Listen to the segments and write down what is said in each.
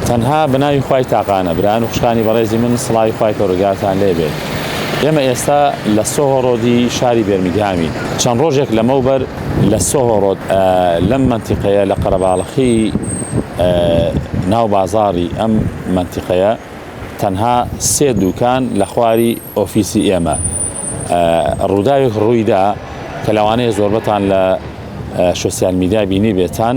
تەنها بەناوی خوای تاقانە. برایان و خوشکانی بەڕێزی من سڵاوی خوای پەرۆردگارتان لێ بێت ئێمە ئێستا لە سۆهۆ ڕۆدی شاری بێرمیگهامین چەند ڕۆژێک لەمەوبەر لە سۆهۆ ڕۆد لەم مەنتیقەیە لە قەرەباڵخی ناو بازاڕی ئەم مەنتیقەیە تەنها سێ دوکان لە خواری ئۆفیسی ئێمە ڕوداوێک ڕویدا کە لەوانەیە زۆربەتان لە شۆسیال میدیا بینیبێتان.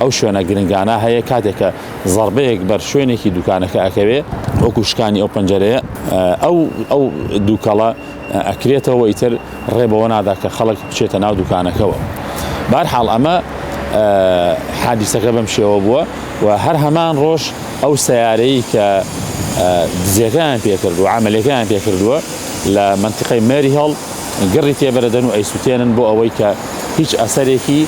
ئەو شوێنە گرنگانە هەیە کاتێک کە زەڕبەیەک بەر شوێنێکی دوکانەکە ئەکەوێ وەکو شکانی ئەو پەنجەرەیە ئەو ئەو دووکەڵە ئەکرێتەوە ئیتر ڕێ بەوە نادا کە خەڵک بچێتە ناو دوکانەکەەوە بارحاڵ ئەمە حادیسەکە بەم شێوە بووە و هەر هەمان ڕۆژ ئەو سیارەی کە دزیەکەیان پێکرد و عملەکەیان پێکردووە لە منتیقی مێری هەڵ گڕی تێبەرەدەن و ئەیسوتێنن بۆ ئەوەی کە هیچ ئەسەرێکی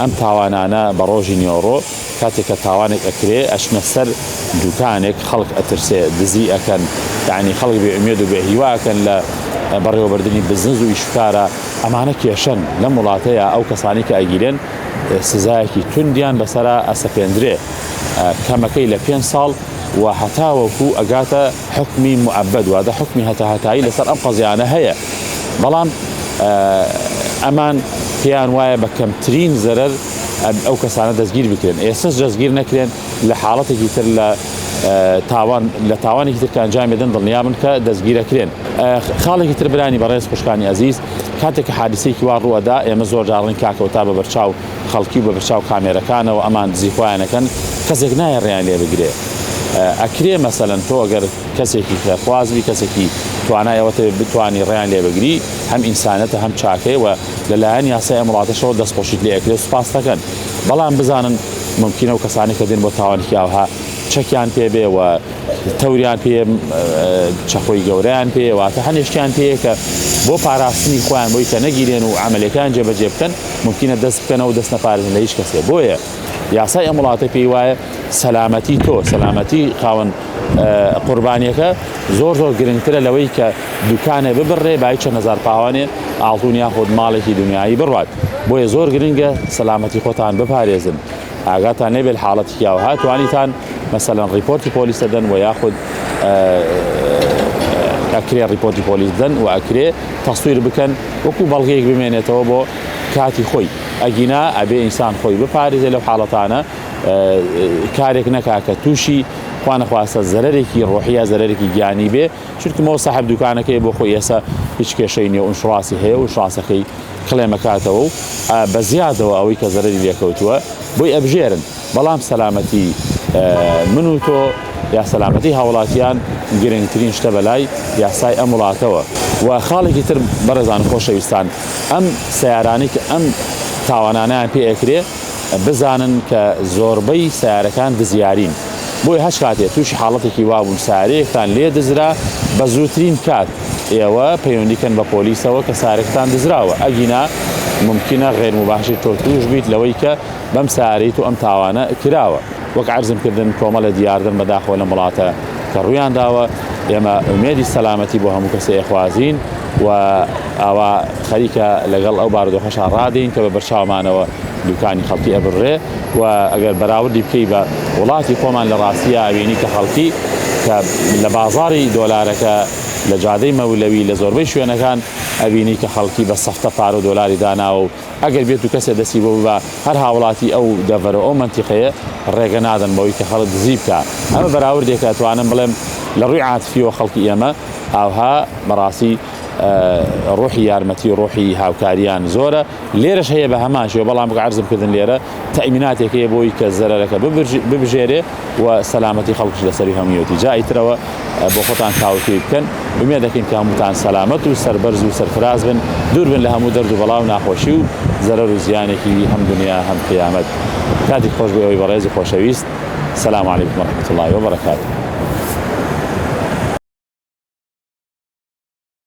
ئەم تاوانانە بە ڕۆژی نیۆڕۆ کاتێک کە تاوانێک ئەکرێ ئەچنە سەر دوکانێک خەڵک ئەترسێ دزی ئەکەن یانی خەڵک بێ ئومێد و بێ هیوا ئەکەن لە بەڕێوەبردنی بزنس و ئیشوکارە ئەمانە کێشەن لەم وڵاتەیە ئەو کەسانی کە ئەگیرێن سزایەکی توندیان بەسەرا ئەسەپێندرێ کەمەکەی لە پێنج ساڵ و هەتاوەکو ئەگاتە حکمی معبد وادە حکمی هەتا هەتایی لەسەر ئەم قەزیانە هەیە بەڵام ئەمان پێیان وایە بە کەمترین زەرەر ئەو کەسانە دەستگیر بکرێن ئێسش دەستگیر نەکرێن لە حاڵەتێکی تر لە تاوان لە تاوانێکی تر کە ئەنجام بدەن دڵنیابن کە دەستگیرەکرێن خاڵێکی تر برانی بەڕێز خوشکانی ئەزیز کاتێک حادسێکی وا ڕووەدا ئێمە زۆر جاڕین کاکەوتا بە بەرچاو خەڵکی و بە بەرچاو کامێرەکانەوە ئەمان دزیخوایانەکەن کەسێک نایە ڕێیان لێ بگرێ ئەکرێ مەسەەن تۆ گەر کەسێکی خێر خواز بی کەسێکی توانای ئەوەتە بتانی ڕیان لێ بگری هەم ئینسانەتە هەم چاکەی و لەلایەن یاسای ئەمڕاتەشەوە دەستخۆشیت لێ ئەکرێت سوپاس دەکەن بەڵام بزانن ممکنە و کەسانی کە دێن بۆ تاوانێکی ئاوها چەکیان پێبێ و تەوریان پێ چەخۆی گەوریان پێ واتە هەنێشتیان پێەیە کە بۆ پاراستنی خۆیان بۆی کە نەگیرێن و عملەکان جێبەجێ بکەن ممکنە دەست بکەنەوە دەست نەپارێزن لە هیچ کەسێ بۆیە یاسای ئەم وڵاتە پێی وایە سەلامەتی تۆ سەلامەتی خاوەن قوربانیەکە زۆر زۆر گرنگترە لەوەی کە دوکانێ ببڕێ بای چەند هزار پاوانێ ئاڵتون یاخود ماڵێکی دنیایی بڕات بۆیە زۆر گرنگە سەلامەتی خۆتان بپارێزن ئاگاتان لێبێت حاڵەتی یاو هاتوانیتان مەسەلەن ڕیپۆرتی پۆلیس دەدەن و یاخود ئەکرێ ڕیپۆرتی پۆلیس دەن و ئەکرێ تەسویر بکەن وەکو بەڵگەیەک بمێنێتەوە بۆ کاتی خۆی ئەگینا ئەبێ ئینسان خۆی بپارێزێ لەو حاڵەتانە کارێک نەکا کە تووشی خوانەخواستە زەرێکی ڕۆحیە زەرێکی گیانی بێ چونکمەوە سەحب دوکانەکەی بۆ خۆی ئێسا هیچ کێشەی نیە و شڕاستی هەیە و شڕاسەکەی کڵێمەکاتەوە و بە زیادەوە ئەوەی کە زەرری لێکەوتووە بۆی ئەبژێرن بەڵام سەلامەتی من و تۆ یا سەلامەتی هاوڵاتیان گرنگترین شتە بەلای یاسای ئەم وڵاتەوە و خاڵێکی تر بەڕێزان خۆشەویستان ئەم سیارانەی کە ئەم تاوانانیان پێ ئەکرێ بزانن کە زۆربەی سیارەکان دزیارین بۆی هەچ کاتێ تووشی حاڵەتێکی وابوون سارەیەکتان لێ دزرا بە زووترین کات ئێوە پەیوەندیکەن بە پۆلیسەوە کە سارێکتان دزراوە ئەگینا ممکنە غێرمباشر تۆ تووش بیت لەوەی کە بەم سارەی تۆ ئەم تاوانە کراوە. وەک عەرزم کردن کۆمەڵێ دیاردەن بەداخەوە لەم وڵاتە کە ڕوویان داوە، ئێمە ئومێدی سەلامەتی بۆ هەموو کەسێ ئەخوازین و ئاوا خەریکە لەگەڵ ئەو بارودۆخەشا ڕادێین کە بە بەرچاومانەوە دوکانی خەڵکی ئەبڕرێ و ئەگەر بەراوردی بکەی بە وڵاتی خۆمان لە ڕاستیا ئەبینی کە خەڵکی کە لە بازاڕی دۆلارەکە لە جادەی مەولەوی لە زۆربەی شوێنەکان ئەبینی کە خەڵکی بە سەفتە پارە و دۆلاری داناوە و ئەگەر بێتو کەسێ دەستی بۆ ببا هەر هاوڵاتی ئەو دەڤەرو ئەو مەنتیقەیە ڕێگە نادەن بەوەی کە خەڵک دزی بکا. ئەمە بەراوردێکە ئەتوانم بڵێم لە ڕووی عاتفیەوە خەڵکی ئێمە ئاوها بەڕاستی ڕۆحی یارمەتی و ڕۆحی هاوکاریان زۆرە لێرەش هەیە بە هەمان شێوە بەڵام وەک عەرزم کردن لێرە تەئمیناتێک هەیە بۆی کە زەرەرەکە ببژێرێ و سەلامەتی خەڵکش لەسەری هەموویەتی جا ئیترەوە بۆ خۆتان تاوتوی بکەن ومێ دەکەین کە هەمووتان سەلامەت و سەربەرز و سەرفراز بن دوور بن لە هەموو دەرد و بەڵا و ناخۆشی و زەرەر و زیانێکی هەم دنیا هەم قیامەت کاتی خۆش بۆ ئەوی بەڕێز و خۆشەویست سلام علیکم و رحمت الله وبرکاته